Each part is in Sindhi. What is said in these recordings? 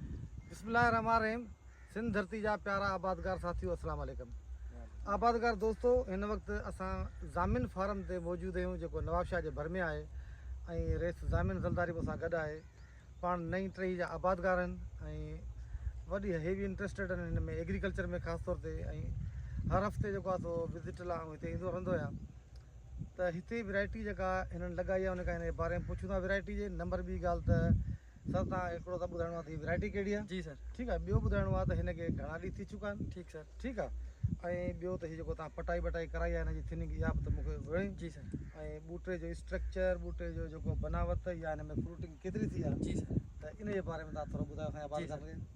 بسم الله الرحمٰن الرحيم سنڌ ڌرتي جا پيارا آبادگار ساٿيو السلام عليڪم آبادگار دوستو هن وقت اسان ضامن فارم تي موجود آهيون جيڪو نوابشاهه جي ڀر ۾ آهي ۽ ريس ضامن زلداري مون سان گڏ آهي پاڻ نئين ٽهي جا آبادگار آهن ۽ وڏي هيوي انٽرسٽيڊ آهن هن ۾ ايگريڪلچر ۾ خاص طور تي ۽ هر هفته جيڪو آهي سو وزٽ لاء آئون هتي ايندو رهندو آهيان ته هتي ويرائٽي جيڪا هنن لڳائي آهي ان کان هن جي باري ۾ پڇون ٿا ويرائٽي جي نمبر ٻي ڳالهه ته سر تان هڪڙو ته ٻڌائڻو آ ته هي ورائٽي ڪهڙي آ جي سر ٺيڪ آ ٻيو ٻڌائڻو آ ته هن کي گهڻا ڏينهن ٿي چڪا آهن ٺيڪ سر ٺيڪ آ ۽ ٻيو ته هي جيڪو توهان پٽائي بٽائي ڪرائي آ هن جي ٿننگ اها به ته مونکي وڻي جي سر ۽ ٻوٽي جو اسٽرڪچر ٻوٽي جو جيڪو بناوت يا هن ۾ فروٽنگ ڪيتري ٿي آ جي سر ته ان جي باري ۾ توهان ٿورو ٻڌايو اسان جي عبادت کي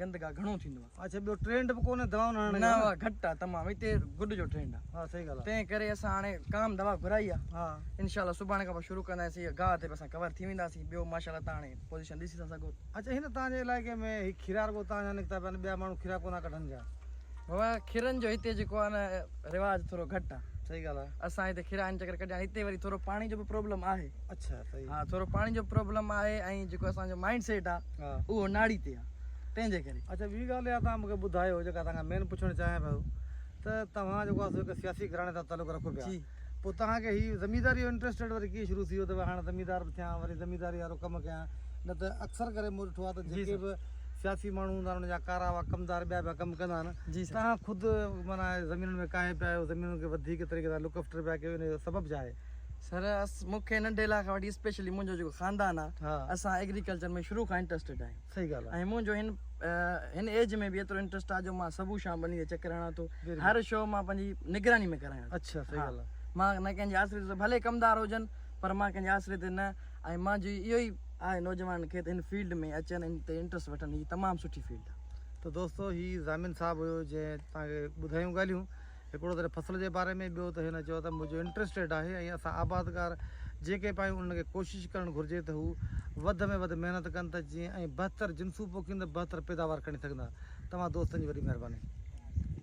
گندگا گھڻو ٿيندو آ اڇا ٻيو ٽرينڊ به ڪونهي دوائون هڻڻ جو نه اها گھٽ آ تمام هتي گڏ جو ٽرينڊ آ ها صحيح ڳالهه آ تنهن ڪري اسان هاڻي ڪام دوا گھرائي آ ها انشاء الله سڀاڻي کان پوء شروع ڪنداسين هي گاهه تي به اسان ڪور ٿي وينداسين ٻيو ماشاء الله تان هاڻي پوزيشن ڏسي ٿا سگهو اڇا هن تان جي علائقي ۾ هي کيرا رڳو تان جا نڪتا پيا آهن ٻيا ماڻهو کيرا ڪونه ڪڍن پيا بابا کيرن جو هتي جيڪو آهي نه رواج ٿورو گهٽ آهي صحيح ڳالهه آهي اسان هتي کيرا آهن چڪر ڪڍيا هتي وري ٿورو پاڻي جو به پرابلم آهي اڇا صحيح ها ٿورو پاڻي جو پرابلم آهي ۽ جيڪو اسان جو مائنڊ سيٽ آهي اهو ناڙي تي آهي تنهن جي ڪري اڇا ٻي ڳالهه اها تان مونکي ٻڌايو جيڪا تان کان مين پڇڻ چاهيان پيو ته توهان جيڪو آهي سياسي گهراڻي سان تعلق رکو پيا پوء توهان کي هي زمينداري جو انٽرسٽيڊ وري ڪيئن شروع ٿي ويو ته هاڻ زميندار به ٿيان وري زمينداري وارو ڪم ڪيان نه ته اڪثر ڪري مون ڏٺو آهي ته جيڪي به سياسي ماڻهو هوندا آهن ان جا ڪارا هئا ڪمدار ٻيا پيا ڪم ڪندا آهن توهان خود معنيٰ زمينن ۾ ڪاهي پيا آهيو زمينن کي وڌيڪ طريقي سان لڪ افٽر پيا ڪيو ان جو سبب ڇا آهي؟ سر مون کي ننڍي لاء کان وٺي اسپيشلي منهنجو جيڪو خاندان آهي اسان ايگريڪلچر ۾ شروع کان انٽرسٽيڊ آهيون. صحيح ڳالهه آهي ۽ منهنجو هن هن ايج ۾ به ايترو انٽرسٽ آهي جو مان صبح شام ٻني تي چڪر هڻان ٿو هر شو مان پنهنجي نگراني ۾ ڪرايان ٿو اڇا صحيح ڳالهه آهي مان نه ڪنهن جي آسري تي ڀلي ڪمدار هجن پر مان ڪنهن جي آسري تي نه ۽ مان جي اهو ئي آهي نوجوانن کي ته هن فيلڊ ۾ اچن هن تي انٽرسٽ وٺن هي تمام سٺي فيلڊ آهي ته دوستو هي ضامن صاحب هيو جنهن توهان کي ٻڌايون ڳالهيون هڪڙو ته هن فصل جي باري ۾ ٻيو ته هن چيو ته منهنجو انٽرسٽيڊ آهي ۽ اسان آبادگار جيڪي به آهيون انهن کي ڪوشش ڪرڻ گهرجي ته هو وڌ ۾ وڌ محنت ڪن ته جيئن ۽ بهتر جنسون پوکين ته بهتر پيداوار کڻي سگهندا توهان دوستن جي وڏي مهرباني.